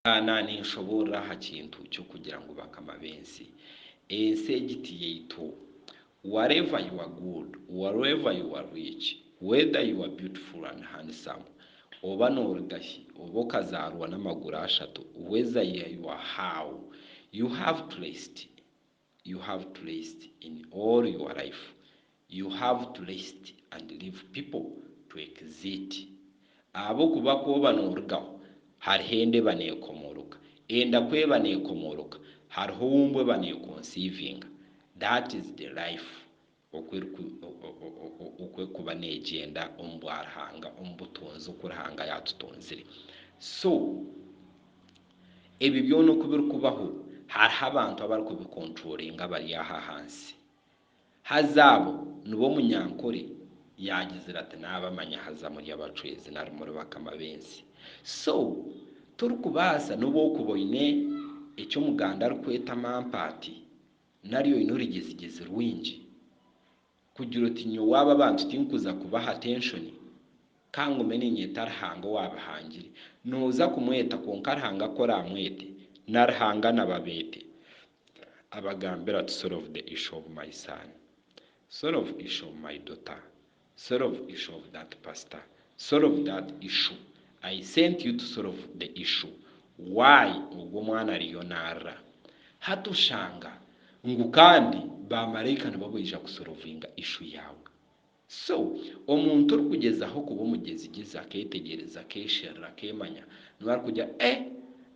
Kaana ninshoboorora aha kintu ky'okugira ngu bakama b'ensi. Ensi egi ti yaitu. Whatever you are good, wharever you are rich, whether you are beautiful and handsome, oba nooruga hi, oba okazaarwa n'amaguru ashatu, whether you are how, you have placed you have to rest in all your life you have to rest and leave people to exit ahabw'okuba ku oba norugaho hariho enda eba nekomoroka enda ku eba nekomoroka hariho owumbwa eba nekonsivinga that is the life oku erikuba neegyenda omu bwa Ruhanga, omu butonzi oku Ruhanga yaatutonzire. So, ebi byona oku birikubaho, hariho abantu abarikubikonturoringa abari aha ahansi. Haza abo nibo omunyankore yaagizire ati, Naabamanya, haza muri abacwezi nari muri bakama b'ensi. So, torikubaasa, n'obu orikuba oine eki Omuganda arikweta mampaati, Nari oine orugyezigezi rwingi kugira oti nyowe aba abantu tinkuza kubaha atenshoni ka ngume niinyeta Ruhanga owaabahangire? Nooza kumweta kwonka Ruhanga ku oraamwete na Ruhanga nabo abeete. Abagambira ati, Solve the issue of my son. Solve issue of my daughter. Solve issue of that pastor solve that issue I sent you to solve the issue why ogwo mwana ariyo narira hati oshanga ngu kandi ba maraika nibo abaija ku solovinga issue yaawe so omuntu orikugyezaho kuba omugyezigyezi aketegyereza akesherura akemanya niwe arikugira eh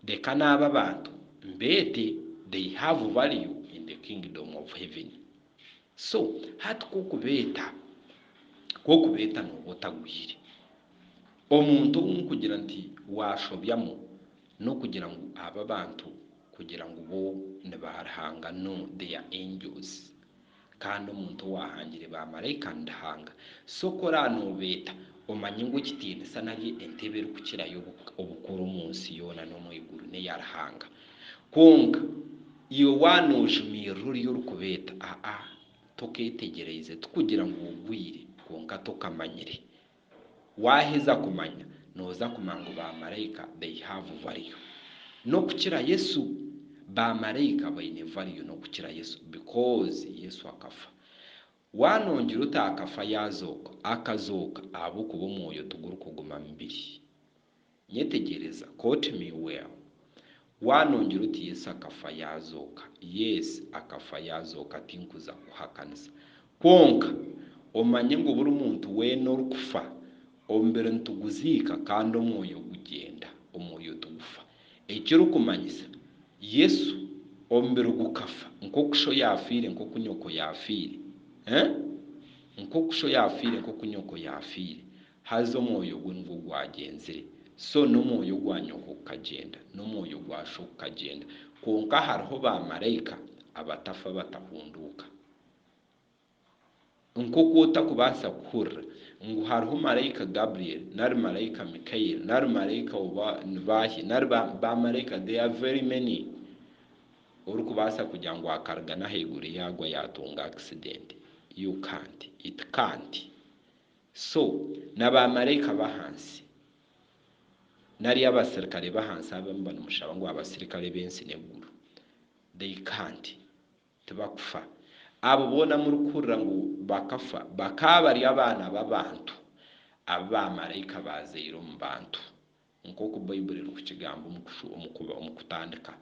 reka naabe abantu mbeete they have value in the kingdom of heaven. So hati k'okubeeta, k'okubeeta nooba otagwire. Omuntu ou nkugira nti waashobyamu n'okugira ngu abo abantu kugira ngu bo ni ba Ruhanga, no, they are angels. Kandi omuntu owaahangire ba maraika ni Ruhanga. So ku oraabe noobeeta, omanye ngu ekitiinisa nari entebe erikukirayo obukuru omu nsi yoona n'omu iguru n'eya Ruhanga. Kwonka. Iwe waaba noojumirira ori orikubeeta, aa, tokeetegyereize, tikugira ngu ogwire, kwonka tokamanyire. Waaheza kumanya, nooza kumanya ngu baamaraika they have value n'okukira Yesu. Baamaraika baine value n'okukira Yesu because Yesu akafa. Waaba noogira oti akafa yaazooka, akazooka ahabw'okuba omwoyo tigurikuguma mibiri. Nyetegyereza, quote me well. Waanongyera oti Yesu akafa yaazooka? Yes, akafa yaazooka tinkuza kukuhakanisa. Kwonka, omanye ngu buri muntu weena orikufa, omubiri nituguziika kandi omwoyo gugyenda, omwoyo tigufa. Ekirikumanyisa, Yesu, omubiri gukafa nk'oku sho yaafiire, nk'oku nyoko yaafiire. Eeh? Nk'oku sho yaafiire, nk'oku nyoko yaafiire. Haza omwoyo gwe nigwo gwagyenzire, so n'omwoyo gwa nyoko gukagyenda, n'omwoyo gwa sho gukagyenda, kwonka hariho baamaraika abatafa batahunduuka. Nk'oku otakubaasa kuhurira ngu hariho maraika Gabriel, nari maraika Mikael, nari maraika oba ni baahi, nari ba, baamaraika, they are very many, orikubaasa kugira ngu akarigana ahaiguru yaagwa yaatunga akisidenti. You can't. It can't. So, na baamaraika b'ahansi, nari abasirikare b'ahansi abo niba nimushaba ngu abasirikare b'ensi n'eguru, they can't, tibakufa. Abo boona murikuhurira ngu bakafa, bakaba bari abaana b'abantu abu baamaraika baazaire omu bantu, Nk'oku Baibuli erikukigamba omu kutandika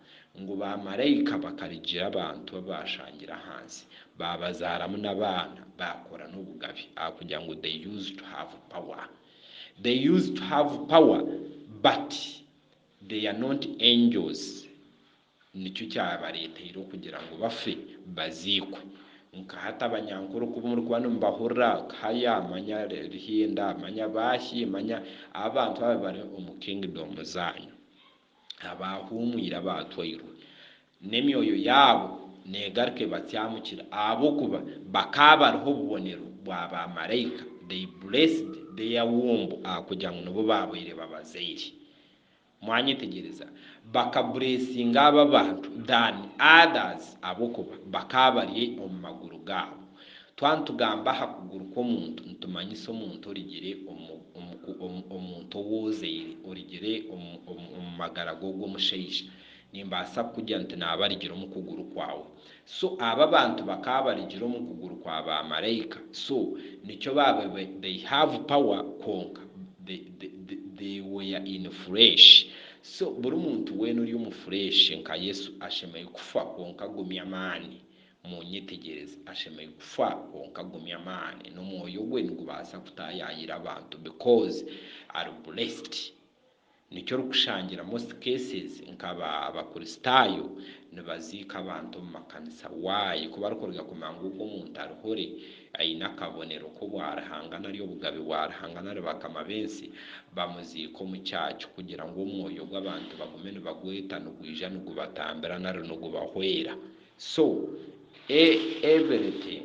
ngu baamaraika bakarigira abantu abu baashangire ahansi, baabazaaramu n'abaana, baakora n'obugabe ahakugira ngu they used to have power. They used to have power but they are not angels Nikyo kyabareeteire okugira ngu bafe, baziikwe. Nkahati abanyankore oku murikuba nimubahurira, haya manya Ruhinda, manya Baashi, manya abo bantu abo abari omu kingidomu zaanyu, abaahuumwire, abaatwairwe, n'emyoyo yaabo neegaruka ebatyamukire, ahabw'okuba bakaba bariho obubonero bwa baamaraika, they blessed their womb, ahakugira ngu nibo baabaire babazaire. Mwanyetegyereza, bakabureesinga abo abantu than others ahabw'okuba bakaba bari omu maguru gaabo. Twaba nitugamba aha kuguru kw'omuntu nitumanyisa omuntu origire omu omu ku omu omuntu owoozeire, origire omu omu omu magara g'ogwo omushaija. Nimbaasa kukugira nti naaba arigire omu kuguru kwawe. So abo abantu bakaba barigire omu kuguru kwa ba maraika so nikyo baba they have power kwonka they they were in flesh so buri muntu wena ori omu flesh nka Yesu ashemeire kufa kwonka agumye amaani munyetegyereze ashemeire kufa kwonka agumye amaani nomwoyo gwe nigubasa kutayayira abantu because ari blessed. Nikyo orikushangire most cases nka ba bakuristaayo nibaziika abantu omu makanisa. Why? Ku barikuruga kumanya ngu ogu omuntu ari hore, aine akabonero k'obwa Ruhanga nari obugabe bwa Ruhanga nari bakama b'ensi, bamuziika omu church kugira ngu omwoyo gw'abantu bagume nibagweta nigwija nigubatambira nari nigubahwera. So, e everything.